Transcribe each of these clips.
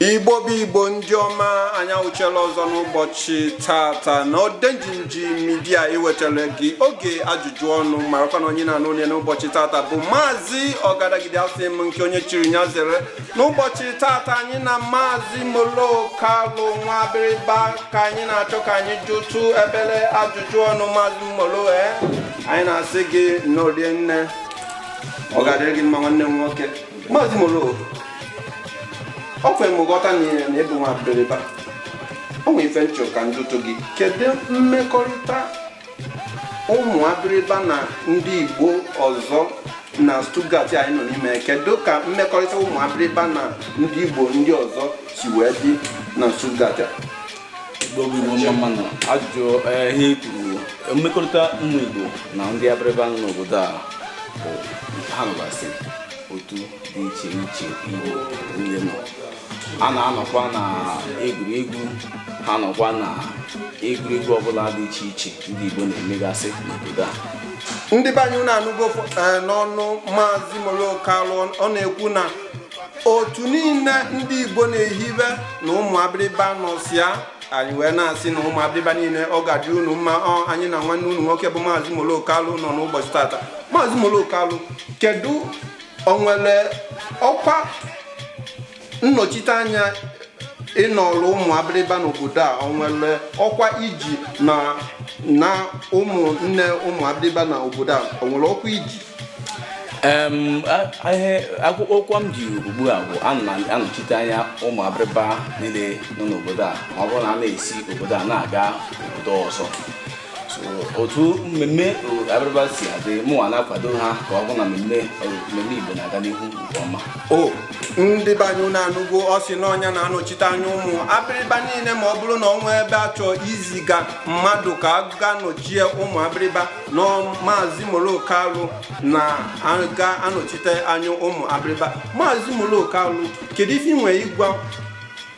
igbo bụ igbo ndị ọma anyị awụchiela ọzọ n'ụbọchị tata na odenjinji media iwetara gị oge ajụjụ ọnụ marakwa na onye na-anụ olu ya n'ụbọchị tata bụ maazị ọgadagidi asị m nke onye chiri nya zere n'ụbọchị tata anyị na maazị molo kalụ nwa abịrịba ka anyị na-achọ ka anyị jụtụ obele ajụjụ ọnụ maazị molo e eh? anyị na-asị gị nnọọ rinne ọ ga-adịrị gị mma nwanne m nwoke maazị molo o kwere m ghọta na ị na ị bụ nwa abịrịba o nwere ife m chọ ka m jụtụ gị kedu mmekọrịta ụmụ abịrịba na ndị igbo ọzọ na Stuttgart anyị nọ n'ime kedu ka mmekọrịta ụmụ abịrịba na ndị igbo ndị ọzọ si wee dị na Stuttgart a? ajụjụ eh, ihe kwuru mmekọrịta ụmụ Igbo na ndị abịrịba nọ n'obodo a ha nọgasị otu dị iche iche Igbo niile nọ ha na-anọkwa na egwuregwu ha nọkwa na egwuregwu ọbụla dị iche iche ndị Igbo na-emegasị n'obodo a ndị be anyị unu anụgo eh, n'ọnụ maazị Molo Kalụ ọ na-ekwu na otu niile ndị igbo na-ehibe na ụmụ abịrịba nọsị ya anyị wee na-asị na ụmụ abịrịba niile ọ ga-adị unu mma o anyị na nwanne unu nwoke bụ maazị molo kalụ nọ n'ụbọchị tata maazị molo kalụ kedu o nwere ọkwa nnọchiteanya ị nọrọ ụmụ abịrịba n'obodo a o nwere ọkwa i ji na na ụmụnne ụmụ abịrịba na obodo a o nwere ọkwa i ji ọkwa m ji ugbu a bụ anọchite anya ụmụ abịrịba niile nọ n'obodo a ma ọ bụrụ na a na-esi obodo a na-aga obodo ọzọ otu mmemme abịrịba si adị mụnwa na-akwado ha ka ọ bụ na mmemme Igbo na-aga n'ihu nke ọma o ndị be anyị unu anụgo ọ sị na ọ nya na-anọchite anya ụmụ abịrịba niile ma ọ bụrụ na o nwee ebe a chọọ iziga mmadụ ka a ga nọchie ụmụ abịrịba na maazị molo kalụ na-aga anọchite anya ụmụ abịrịba maazị molo kalụ kedu ife i nwere ịgwa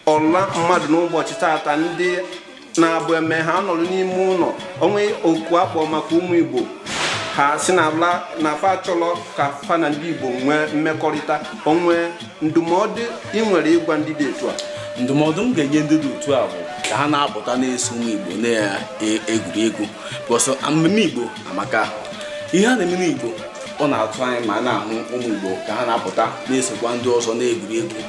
ọra mmadụ n'ụbọchị tata ndị na-abụ e mee ha anọrọ n'ime ụlọ o nwee oku a kpọ maka ụmụ igbo ha sị na ala na fa achọrọ ka fa na ndị igbo nwee mmekọrịta o nwe ndụmọdụ i nwere ịgwa ndị dị etu a ndụmọdụ m ga-enye ndị dị otu a bụ ka ha na-apụta na-eso ụmụ igbo na-egwuri egwu bọsọ mmemme igbo amaka ihe a na-eme n'igbo ọ na-atọ anyị ma a na-ahụ ụmụ igbo ka ha na-apụta na-esokwa ndị ọzọ na-egwuri egwu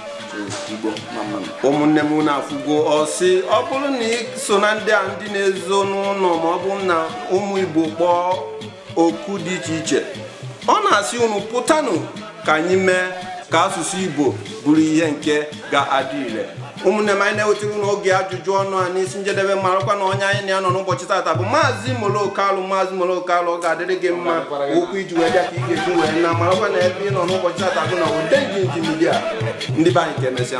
igbo mma mma. ụmụnne m unu afụgo ọ sị ọ bụrụ na ị so na ndị a ndị na-ezo n'ụnọ ma ọ bụ na ụmụ igbo kpọọ oku dị iche iche ọ na-asị unu pụtanụ ka anyị mee ka asụsụ Igbo bụrụ ihe nke ga-adị ire ụmụnne m anyị na-ewetara unu oge ajụjụ ọnụ a n'isi njedebe marakwa na onye anyị na ya nọ n'ụbọchị tata bụ maazị molokalụ maazị molokalụ ọ ga-adịrị gị mma ụkwụ i ji wee bịa ka ị ga-eji wee na marakwa na ebe ị nọ n'ụbọchị tata bụ na odenjinji media ndị be anyị ka emesịa